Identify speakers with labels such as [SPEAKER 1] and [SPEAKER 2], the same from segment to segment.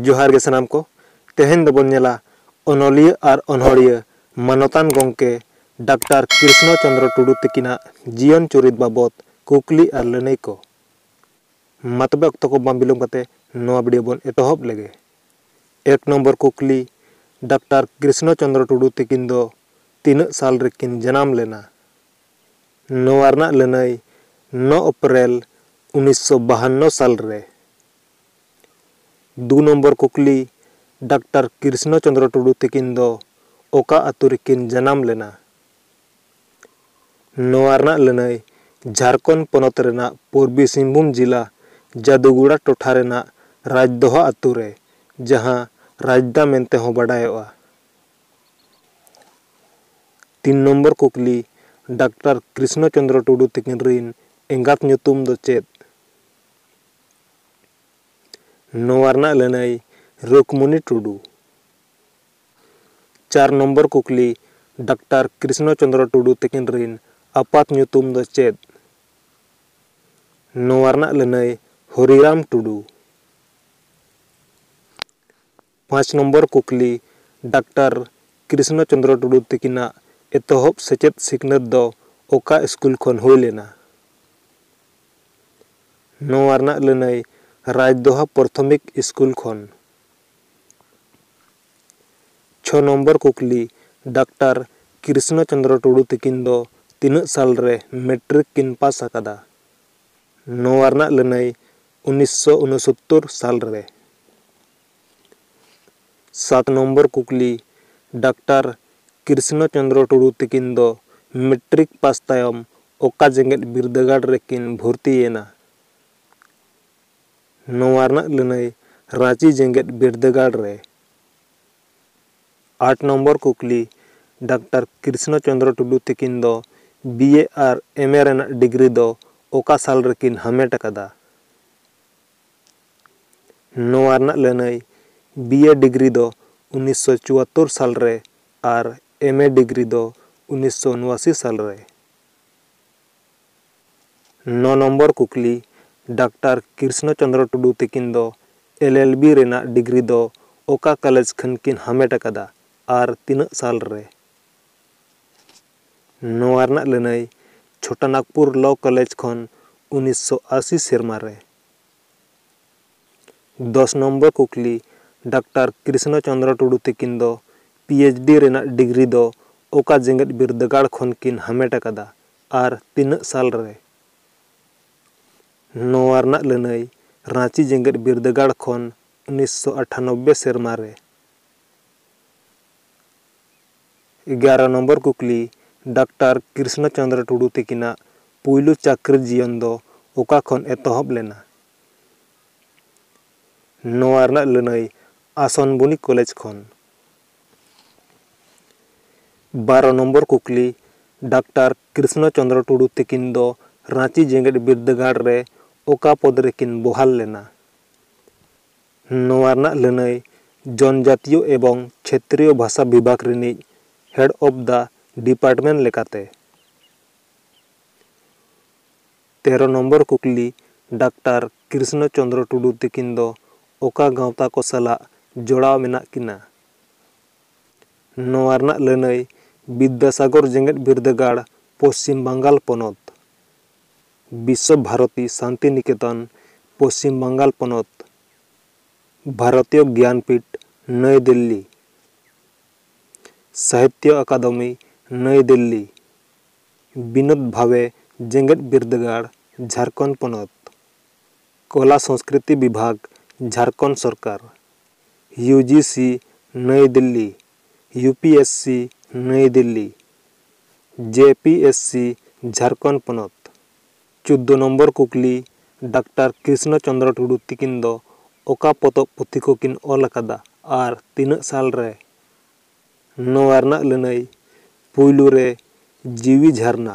[SPEAKER 1] ᱡᱚᱦᱟᱨ ᱜᱮ ᱥᱟᱱᱟᱢ ᱠᱚ ᱛᱮᱦᱮᱧ ᱫᱚᱵᱚᱱ ᱧᱮᱞᱟ ᱚᱱᱚᱞᱤᱭᱟᱹ ᱟᱨ ᱚᱱᱚᱲᱤᱭᱟᱹ ᱢᱟᱱᱚᱛᱟᱱ ᱜᱚᱢᱠᱮ ᱰᱟᱠᱛᱟᱨ ᱠᱨᱤᱥᱱᱚ ᱪᱚᱱᱫᱨᱚ ᱴᱩᱰᱩ ᱛᱤᱠᱤᱱᱟᱜ ᱡᱤᱭᱚᱱ ᱪᱩᱨᱤᱛ ᱵᱟᱵᱚᱛ ᱠᱩᱠᱞᱤ ᱟᱨ ᱞᱟᱹᱱᱟᱹᱭ ᱠᱚ ᱢᱟ ᱛᱚᱵᱮ ᱚᱠᱛᱚ ᱠᱚ ᱵᱟᱝ ᱵᱤᱞᱚᱢ ᱠᱟᱛᱮ ᱱᱚᱣᱟ ᱵᱷᱤᱰᱤᱭᱳ ᱵᱚᱱ ᱮᱛᱚᱦᱚᱵ ᱞᱮᱜᱮ ᱮᱠ ᱱᱚᱢᱵᱚᱨ ᱠᱩᱠᱞᱤ ᱰᱟᱠᱛᱟᱨ ᱠᱨᱤᱥᱱᱚ ᱪᱚᱱᱫᱨᱚ ᱴᱩᱰᱩ ᱛᱤᱠᱤᱱ ᱫᱚ ᱛᱤᱱᱟᱹᱜ ᱥᱟᱞ ᱨᱮᱠᱤᱱ ᱡᱟᱱᱟᱢ ᱞᱮᱱᱟ? ᱱᱚᱣᱟ ᱨᱮᱱᱟᱜ ᱞᱟᱹᱱᱟᱹᱭ ᱱᱚ ᱚᱯᱨᱮᱞ ᱩᱱᱤᱥ ᱥᱚ ᱵᱟᱦᱟᱱᱱᱚ ᱥᱟᱞ ᱨᱮ᱾ ᱫᱩ ᱱᱚᱢᱵᱚᱨ ᱠᱩᱠᱞᱤ ᱰᱟᱠᱴᱟᱨ ᱠᱨᱤᱥᱱᱚ ᱪᱚᱸᱫᱽᱨᱚ ᱴᱩᱰᱩ ᱛᱤᱠᱤᱱ ᱫᱚ ᱚᱠᱟ ᱟᱹᱛᱩ ᱨᱮᱠᱤᱱ ᱡᱟᱱᱟᱢ ᱞᱮᱱᱟ? ᱱᱚᱣᱟ ᱨᱮᱱᱟᱜ ᱞᱟᱹᱱᱟᱹᱭ ᱡᱷᱟᱨᱠᱷᱚᱸᱰ ᱯᱚᱱᱚᱛ ᱨᱮᱱᱟᱜ ᱯᱩᱨᱵᱤ ᱥᱤᱝᱵᱷᱩᱢ ᱡᱤᱞᱟ ᱡᱟᱫᱩᱜᱩᱲᱟ ᱴᱚᱴᱷᱟ ᱨᱮᱱᱟᱜ ᱨᱟᱡᱽᱫᱚᱦᱟ ᱟᱹᱛᱩ ᱨᱮ, ᱡᱟᱦᱟᱸ ᱨᱟᱡᱽᱫᱟ ᱢᱮᱱᱛᱮ ᱦᱚᱸ ᱵᱟᱰᱟᱭᱚᱜᱼᱟ᱾ ᱛᱤᱱ ᱱᱚᱢᱵᱚᱨ ᱠᱩᱠᱞᱤ, ᱰᱟᱠᱛᱟᱨ ᱠᱨᱤᱥᱱᱚ ᱪᱚᱱᱫᱨᱚ ᱴᱩᱰᱩ ᱛᱤᱠᱤᱱ ᱨᱤᱱ ᱮᱸᱜᱟᱛ ᱧᱩᱛᱩᱢ ᱫᱚ ᱪᱮᱫ? ᱱᱚᱣᱟ ᱨᱮᱱᱟᱜ ᱞᱟᱹᱱᱟᱹᱭ ᱨᱩᱠᱢᱩᱱᱤ ᱴᱩᱰᱩ᱾ ᱪᱟᱨ ᱱᱚᱢᱵᱚᱨ ᱠᱩᱠᱞᱤ, ᱰᱟᱠᱛᱟᱨ ᱠᱨᱤᱥᱱᱚ ᱪᱚᱱᱫᱨᱚ ᱴᱩᱰᱩ ᱛᱤᱠᱤᱱ ᱨᱤᱱ ᱟᱯᱟᱛ ᱧᱩᱛᱩᱢ ᱫᱚ ᱪᱮᱫ? ᱱᱚᱣᱟ ᱨᱮᱱᱟᱜ ᱞᱟᱹᱱᱟᱹᱭ ᱦᱚᱨᱤᱨᱟᱢ ᱴᱩᱰᱩ᱾ ᱯᱟᱸᱪ ᱱᱚᱢᱵᱚᱨ ᱠᱩᱠᱞᱤ, ᱰᱟᱠᱴᱚᱨ ᱠᱨᱤᱥᱱᱚ ᱪᱚᱸᱫᱽᱨᱚ ᱴᱩᱰᱩ ᱛᱤᱠᱤᱱᱟᱜ ᱮᱛᱚᱦᱚᱵ ᱥᱮᱪᱮᱫ ᱥᱤᱠᱷᱱᱟᱹᱛ ᱫᱚ ᱚᱠᱟ ᱤᱥᱠᱩᱞ ᱠᱷᱚᱱ ᱦᱩᱭ ᱞᱮᱱᱟ? ᱱᱚᱣᱟ ᱨᱮᱱᱟᱜ ᱞᱟᱹᱱᱟᱹᱭ ᱨᱟᱡᱽᱫᱚᱦᱟ ᱯᱚᱨᱛᱷᱚᱢᱤᱠ ᱤᱥᱠᱩᱞ ᱠᱷᱚᱱ᱾ ᱪᱷᱚ ᱱᱚᱢᱵᱚᱨ ᱠᱩᱠᱞᱤ, ᱰᱟᱠᱴᱚᱨ ᱠᱨᱤᱥᱱᱚ ᱪᱚᱸᱫᱽᱨᱚ ᱴᱩᱰᱩ ᱛᱤᱠᱤᱱ ᱫᱚ ᱛᱤᱱᱟᱹᱜ ᱥᱟᱞ ᱨᱮ ᱢᱮᱴᱨᱤᱠ ᱠᱤᱱ ᱯᱟᱥ ᱟᱠᱟᱫᱟ? ᱱᱚᱣᱟ ᱨᱮᱱᱟᱜ ᱞᱟᱹᱱᱟᱹᱭ ᱩᱱᱤᱥᱥᱚ ᱩᱱᱚᱥᱚᱛᱛᱚᱨ ᱥᱟᱞ ᱨᱮ᱾ ᱥᱟᱛ ᱱᱚᱢᱵᱚᱨ ᱠᱩᱠᱞᱤ, ᱰᱟᱠᱴᱟᱨ ᱠᱨᱤᱥᱱᱚ ᱪᱚᱱᱫᱨᱚ ᱴᱩᱰᱩ ᱛᱤᱠᱤᱱ ᱫᱚ ᱢᱮᱴᱨᱤᱠ ᱯᱟᱥ ᱛᱟᱭᱚᱢ ᱚᱠᱟ ᱡᱮᱜᱮᱛ ᱵᱤᱨᱫᱟᱹᱜᱟᱲ ᱨᱮ ᱠᱤᱱ ᱵᱷᱚᱨᱛᱤ ᱭᱮᱱᱟ? ᱱᱚᱣᱟ ᱨᱮᱱᱟᱜ ᱞᱟᱹᱱᱟᱹᱭ ᱨᱟᱺᱪᱤ ᱡᱮᱜᱮᱛ ᱵᱤᱨᱫᱟᱹᱜᱟᱲ ᱨᱮ᱾ ᱟᱴ ᱱᱚᱢᱵᱚᱨ ᱠᱩᱠᱞᱤ, ᱰᱟᱠᱴᱟᱨ ᱠᱨᱤᱥᱱᱚ ᱪᱚᱱᱫᱨᱚ ᱴᱩᱰᱩ ᱛᱤᱠᱤᱱ ᱫᱚ ᱵᱤ ᱮ ᱟᱨ ᱮᱢ ᱮ ᱨᱮᱱᱟᱜ ᱰᱤᱜᱽᱨᱤ ᱫᱚ ᱚᱠᱟ ᱥᱟᱞ ᱨᱮ ᱠᱤᱱ ᱦᱟᱢᱮᱴ ᱟᱠᱟᱫᱟ? ᱱᱚᱣᱟ ᱨᱮᱱᱟᱜ ᱞᱟᱹᱱᱟᱹᱭ ᱵᱤ ᱮ ᱰᱤᱜᱽᱨᱤ ᱫᱚ ᱩᱱᱤᱥ ᱥᱚ ᱪᱩᱣᱟᱛᱛᱳᱨ ᱥᱟᱞ ᱨᱮ ᱟᱨ ᱮᱢ ᱮ ᱰᱤᱜᱽᱨᱤ ᱫᱚ ᱩᱱᱤᱥ ᱥᱚ ᱩᱱᱩᱟᱥᱤ ᱥᱟᱞ ᱨᱮ᱾ ᱱᱚ ᱱᱚᱢᱵᱚᱨ ᱠᱩᱠᱞᱤ, ᱰᱟᱠᱴᱟᱨ ᱠᱨᱤᱥᱱᱚ ᱪᱚᱱᱫᱨᱚ ᱴᱩᱰᱩ ᱛᱤᱠᱤᱱ ᱫᱚ ᱮᱞ ᱮᱞ ᱵᱤ ᱨᱮᱱᱟᱜ ᱰᱤᱜᱽᱨᱤ ᱫᱚ ᱚᱠᱟ ᱠᱟᱞᱮᱡᱽ ᱠᱷᱚᱱ ᱠᱤᱱ ᱦᱟᱢᱮᱴ ᱟᱠᱟᱫᱟ ᱟᱨ ᱛᱤᱱᱟᱹᱜ ᱥᱟᱞ ᱨᱮ? ᱱᱚᱣᱟ ᱨᱮᱱᱟᱜ ᱞᱟᱹᱱᱟᱹᱭ ᱪᱷᱳᱴᱟ ᱱᱟᱜᱽᱯᱩᱨ ᱞᱚ ᱠᱚᱞᱮᱡᱽ ᱠᱷᱚᱱ ᱩᱱᱤᱥ ᱥᱚ ᱟᱥᱤ ᱥᱮᱨᱢᱟ ᱨᱮ᱾ ᱫᱚᱥ ᱱᱚᱢᱵᱚᱨ ᱠᱩᱠᱞᱤ, ᱰᱟᱠᱴᱟᱨ ᱠᱨᱤᱥᱱᱚ ᱪᱚᱱᱫᱨᱚ ᱴᱩᱰᱩ ᱛᱤᱠᱤᱱ ᱫᱚ ᱯᱤ ᱮᱭᱤᱪ ᱰᱤ ᱨᱮᱱᱟᱜ ᱰᱤᱜᱽᱨᱤ ᱫᱚ ᱚᱠᱟ ᱡᱮᱜᱮᱛ ᱵᱤᱨᱫᱟᱹᱜᱟᱲ ᱠᱷᱚᱱ ᱠᱤᱱ ᱦᱟᱢᱮᱴ ᱟᱠᱟᱫᱟ ᱟᱨ ᱛᱤᱱᱟᱹᱜ ᱥᱟᱞ ᱨᱮ? ᱱᱚᱣᱟ ᱨᱮᱱᱟᱜ ᱞᱟᱹᱱᱟᱹᱭ ᱨᱟᱺᱪᱤ ᱡᱮᱜᱮᱛ ᱵᱤᱨᱫᱟᱹᱜᱟᱲ ᱠᱷᱚᱱ ᱩᱱᱤᱥ ᱥᱚ ᱟᱴᱷᱟᱱᱚᱵᱵᱮ ᱥᱮᱨᱢᱟ ᱨᱮ᱾ ᱮᱜᱟᱨᱚ ᱱᱚᱢᱵᱚᱨ ᱠᱩᱠᱞᱤ, ᱰᱟᱠᱴᱟᱨ ᱠᱨᱤᱥᱱᱚ ᱪᱚᱱᱫᱨᱚ ᱴᱩᱰᱩ ᱛᱤᱠᱤᱱᱟᱜ ᱯᱩᱭᱞᱩ ᱪᱟᱠᱨᱤ ᱡᱤᱭᱚᱱ ᱫᱚ ᱚᱠᱟ ᱠᱷᱚᱱ ᱮᱛᱚᱦᱚᱵ ᱞᱮᱱᱟ? ᱱᱚᱣᱟ ᱨᱮᱱᱟᱜ ᱞᱟᱹᱱᱟᱹᱭ ᱟᱥᱚᱱ ᱵᱚᱱᱤᱠ ᱠᱚᱞᱮᱡᱽ ᱠᱷᱚᱱ᱾ ᱵᱟᱨᱚ ᱱᱚᱢᱵᱚᱨ ᱠᱩᱠᱞᱤ, ᱰᱟᱠᱴᱟᱨ ᱠᱨᱤᱥᱱᱚ ᱪᱚᱱᱫᱨᱚ ᱴᱩᱰᱩ ᱛᱤᱠᱤᱱ ᱫᱚ ᱨᱟᱺᱪᱤ ᱡᱮᱜᱮᱛ ᱵᱤᱨᱫᱟᱹᱜᱟᱲ ᱨᱮ ᱚᱠᱟ ᱯᱚᱫᱽ ᱨᱮᱠᱤᱱ ᱵᱚᱦᱟᱞ ᱞᱮᱱᱟ? ᱱᱚᱣᱟ ᱨᱮᱱᱟᱜ ᱞᱟᱹᱱᱟᱹᱭ ᱡᱚᱱᱡᱟᱛᱤᱭᱚ ᱮᱵᱚᱝ ᱪᱷᱮᱛᱨᱤᱭᱚ ᱵᱷᱟᱥᱟ ᱵᱤᱵᱷᱟᱜᱽ ᱨᱤᱱᱤᱡ ᱦᱮᱰ ᱚᱯᱷ ᱫᱟ ᱰᱤᱯᱟᱨᱴᱢᱮᱱᱴ ᱞᱮᱠᱟᱛᱮ᱾ ᱛᱮᱨᱚ ᱱᱚᱢᱵᱚᱨ ᱠᱩᱠᱞᱤ, ᱰᱟᱠᱴᱟᱨ ᱠᱨᱤᱥᱱᱚ ᱪᱚᱱᱫᱨᱚ ᱴᱩᱰᱩ ᱛᱤᱠᱤᱱ ᱫᱚ ᱚᱠᱟ ᱜᱟᱶᱛᱟ ᱠᱚ ᱥᱟᱞᱟᱜ ᱡᱚᱲᱟᱣ ᱢᱮᱱᱟᱜ ᱠᱤᱱᱟ? ᱱᱚᱣᱟ ᱨᱮᱱᱟᱜ ᱞᱟᱹᱱᱟᱹᱭ ᱵᱤᱫᱽᱫᱟᱥᱟᱜᱚᱨ ᱡᱮᱜᱮᱛ ᱵᱤᱨᱫᱟᱹᱜᱟᱲ, ᱯᱚᱪᱷᱤᱢ ᱵᱟᱝᱜᱟᱞ ᱯᱚᱱᱚᱛ᱾ ᱵᱤᱥᱥᱚ ᱵᱷᱟᱨᱚᱛᱤ ᱥᱟᱱᱛᱤᱱᱤᱠᱮᱛᱚᱱ, ᱯᱚᱪᱷᱤᱢ ᱵᱟᱝᱜᱟᱞ ᱯᱚᱱᱚᱛ, ᱵᱷᱟᱨᱚᱛᱤᱭᱚ ᱜᱮᱭᱟᱱᱯᱤᱴᱷ, ᱱᱟᱹᱭ ᱫᱤᱞᱞᱤ, ᱥᱟᱦᱤᱛᱭᱚ ᱟᱠᱟᱫᱚᱢᱤ, ᱱᱟᱹᱭ ᱫᱤᱞᱞᱤ, ᱵᱤᱱᱳᱫᱽ ᱵᱷᱟᱵᱮ ᱡᱮᱜᱮᱛ ᱵᱤᱨᱫᱟᱹᱜᱟᱲ, ᱡᱷᱟᱨᱠᱷᱚᱸᱰ ᱯᱚᱱᱚᱛ, ᱠᱚᱞᱟ ᱥᱚᱸᱥᱠᱨᱤᱛᱤ ᱵᱤᱵᱷᱟᱜᱽ, ᱡᱷᱟᱨᱠᱷᱚᱸᱰ ᱥᱚᱨᱠᱟᱨ, U G C, Nai Delhi, U P S C Nai Delhi J P S C Jharkhand ᱯᱚᱱᱚᱛ ᱪᱳᱫᱽᱫᱚ ᱱᱚᱢᱵᱚᱨ ᱠᱩᱠᱞᱤ ᱰᱟᱠᱴᱟᱨ ᱠᱨᱤᱥᱱᱚ ᱪᱚᱱᱫᱨᱚ ᱴᱩᱰᱩ ᱛᱤᱠᱤᱱ ᱫᱚ ᱚᱠᱟ ᱯᱚᱛᱚᱵ ᱯᱩᱛᱷᱤ ᱠᱚᱠᱤᱱ ᱚᱞ ᱟᱠᱟᱫᱟ ᱟᱨ ᱛᱤᱱᱟᱹᱜ ᱥᱟᱞ ᱨᱮ ᱱᱚᱣᱟ ᱨᱮᱱᱟᱜ ᱞᱟᱹᱱᱟᱹᱭ ᱯᱩᱭᱞᱩ ᱨᱮ ᱡᱤᱣᱤ ᱡᱷᱟᱨᱱᱟ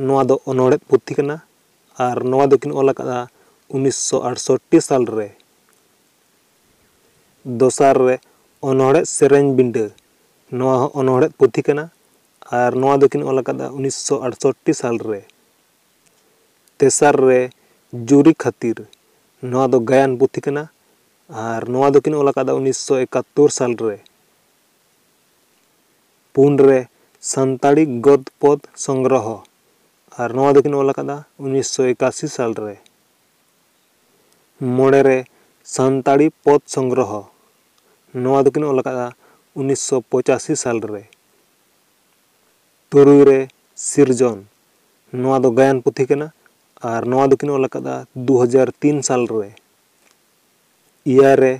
[SPEAKER 1] ᱱᱚᱣᱟ ᱫᱚ ᱚᱱᱚᱬᱦᱮᱸᱫ ᱯᱩᱛᱷᱤ ᱠᱟᱱᱟ ᱟᱨ ᱱᱚᱣᱟ ᱫᱚᱠᱤᱱ ᱚᱞ ᱟᱠᱟᱫᱼᱟ ᱩᱱᱤᱥᱥᱚ ᱟᱴᱥᱚᱴᱴᱤ ᱥᱟᱞ ᱨᱮ ᱫᱚᱥᱟᱨ ᱨᱮ ᱚᱱᱚᱬᱦᱮᱫ ᱥᱮᱨᱮᱧ ᱵᱤᱸᱰᱟᱹ ᱱᱚᱣᱟ ᱦᱚᱸ ᱚᱱᱚᱬᱦᱮᱫ ᱯᱩᱛᱷᱤ ᱠᱟᱱᱟ ᱟᱨ ᱱᱚᱣᱟ ᱫᱚᱠᱤᱱ ᱚᱞ ᱟᱠᱟᱫᱟ ᱩᱱᱤᱥᱥᱚ ᱟᱴᱥᱚᱴᱴᱤ ᱥᱟᱞ ᱨᱮ ᱛᱮᱥᱟᱨ ᱨᱮ ᱡᱩᱨᱤ ᱠᱷᱟᱹᱛᱤᱨ ᱱᱚᱣᱟ ᱫᱚ ᱜᱟᱭᱟᱱ ᱯᱩᱛᱷᱤ ᱠᱟᱱᱟ ᱟᱨ ᱱᱚᱣᱟ ᱫᱚᱠᱤᱱ ᱚᱞ ᱟᱠᱟᱫᱟ ᱩᱱᱤᱥᱥᱚ ᱮᱠᱟᱛᱛᱳᱨ ᱥᱟᱞ ᱨᱮ ᱯᱩᱱ ᱨᱮ ᱥᱟᱱᱛᱟᱲᱤ ᱜᱚᱫ ᱯᱚᱫ ᱥᱚᱝᱜᱨᱚᱦᱚ ᱟᱨ ᱱᱚᱣᱟ ᱫᱚᱠᱤᱱ ᱚᱞ ᱟᱠᱟᱫᱟ ᱩᱱᱤᱥᱥᱚ ᱮᱠᱟᱥᱤ ᱥᱟᱞ ᱨᱮ ᱢᱚᱬᱮ ᱨᱮ ᱥᱟᱱᱛᱟᱲᱤ ᱯᱚᱫᱽ ᱥᱚᱝᱜᱨᱚᱦᱚ ᱱᱚᱣᱟ ᱫᱚᱠᱤᱱ ᱚᱞ ᱟᱠᱟᱫᱼᱟ ᱩᱱᱤᱥ ᱥᱚ ᱯᱚᱸᱪᱟᱥᱤ ᱥᱟᱞ ᱨᱮ᱾ ᱛᱩᱨᱩᱭ ᱨᱮ ᱥᱤᱨᱡᱚᱱ ᱱᱚᱣᱟ ᱫᱚ ᱜᱟᱭᱟᱱ ᱯᱩᱛᱷᱤ ᱠᱟᱱᱟ ᱟᱨ ᱱᱚᱣᱟ ᱫᱚᱠᱤᱱ ᱚᱞ ᱟᱠᱟᱫᱼᱟ ᱫᱩ ᱦᱟᱡᱟᱨ ᱛᱤᱱ ᱥᱟᱞ ᱨᱮ᱾ ᱮᱭᱟᱭ ᱨᱮ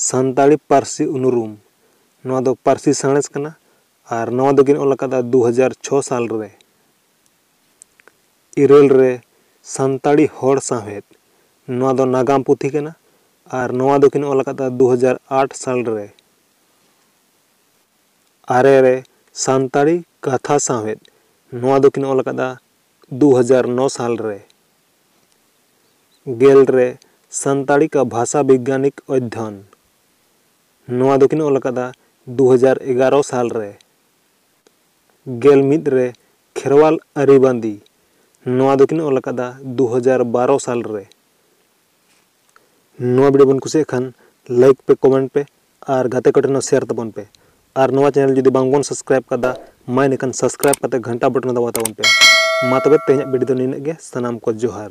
[SPEAKER 1] ᱥᱟᱱᱛᱟᱲᱤ ᱯᱟᱹᱨᱥᱤ ᱩᱱᱩᱨᱩᱢ ᱱᱚᱣᱟ ᱫᱚ ᱯᱟᱹᱨᱥᱤ ᱥᱟᱬᱮᱥ ᱠᱟᱱᱟ ᱟᱨ ᱱᱚᱣᱟ ᱫᱚᱠᱤᱱ ᱚᱞ ᱟᱠᱟᱫᱼᱟ ᱫᱩ ᱦᱟᱡᱟᱨ ᱪᱷᱚ ᱥᱟᱞ ᱨᱮ᱾ ᱤᱨᱟᱹᱞ ᱨᱮ ᱥᱟᱱᱛᱟᱲᱤ ᱦᱚᱲ ᱥᱟᱶᱦᱮᱫ ᱱᱚᱣᱟ ᱫᱚ ᱱᱟᱜᱟᱢ ᱯᱩᱛᱷᱤ ᱠᱟᱱᱟ ᱟᱨ ᱱᱚᱣᱟ ᱫᱚᱠᱤᱱ ᱚᱞ ᱟᱠᱟᱫᱟ ᱫᱩ ᱦᱟᱡᱟᱨ ᱟᱴ ᱥᱟᱞ ᱨᱮ ᱟᱨᱮ ᱨᱮ ᱥᱟᱱᱛᱟᱲᱤ ᱠᱟᱛᱷᱟ ᱥᱟᱶᱦᱮᱫ ᱱᱚᱣᱟ ᱫᱚᱠᱤᱱ ᱚᱞ ᱟᱠᱟᱫᱟ ᱫᱩ ᱦᱟᱡᱟᱨ ᱱᱚ ᱥᱟᱞ ᱨᱮ ᱜᱮᱞ ᱨᱮ ᱥᱟᱱᱛᱟᱲᱤ ᱠᱟ ᱵᱷᱟᱥᱟ ᱵᱤᱜᱽᱜᱟᱱᱤᱠ ᱚᱫᱷᱭᱚᱱ ᱱᱚᱣᱟ ᱫᱚᱠᱤᱱ ᱚᱞ ᱟᱠᱟᱫᱟ ᱫᱩ ᱦᱟᱡᱟᱨ ᱮᱜᱟᱨᱚ ᱥᱟᱞ ᱨᱮ ᱜᱮᱞ ᱢᱤᱫ ᱨᱮ ᱠᱷᱮᱨᱣᱟᱞ ᱟᱹᱨᱤ ᱵᱟᱸᱫᱤ ᱱᱚᱣᱟ ᱫᱚ ᱠᱤᱱ ᱚᱞ ᱟᱠᱟᱫᱟ ᱫᱩ ᱦᱟᱡᱟᱨ ᱵᱟᱨᱚ ᱥᱟᱞ ᱨᱮ᱾ ᱱᱚᱣᱟ ᱵᱷᱤᱰᱤᱭᱳ ᱵᱮᱱ ᱠᱩᱥᱤᱭᱟᱜ ᱠᱷᱟᱱ ᱞᱟᱭᱤᱠ ᱯᱮ ᱠᱚᱢᱮᱱᱴ ᱯᱮ ᱟᱨ ᱜᱟᱛᱮ ᱠᱚ ᱴᱷᱮᱱ ᱦᱚᱸ ᱥᱮᱭᱟᱨ ᱛᱟᱵᱚᱱ ᱯᱮ ᱟᱨ ᱱᱚᱣᱟ ᱪᱮᱱᱮᱞ ᱡᱩᱫᱤ ᱵᱟᱝ ᱵᱚᱱ ᱥᱟᱵᱥᱠᱨᱟᱭᱤᱵ ᱟᱠᱟᱫᱟ ᱢᱟ ᱤᱱᱟᱹ ᱠᱷᱟᱱ ᱥᱟᱵᱥᱠᱨᱟᱭᱤᱵ ᱠᱟᱛᱮ ᱜᱷᱟᱱᱴᱟ ᱵᱚᱴᱚᱱ ᱦᱚᱸ ᱫᱟᱵᱟᱣ ᱛᱟᱵᱚᱱ ᱯᱮ ᱢᱟ ᱛᱚᱵᱮ ᱛᱮᱦᱮᱧᱟᱜ ᱵᱷᱤᱰᱤᱭᱳ ᱫᱚ ᱱᱤᱱᱟᱹᱜ ᱜᱮ ᱥᱟᱱᱟᱢ ᱠᱚ ᱡᱚᱦᱟᱨ᱾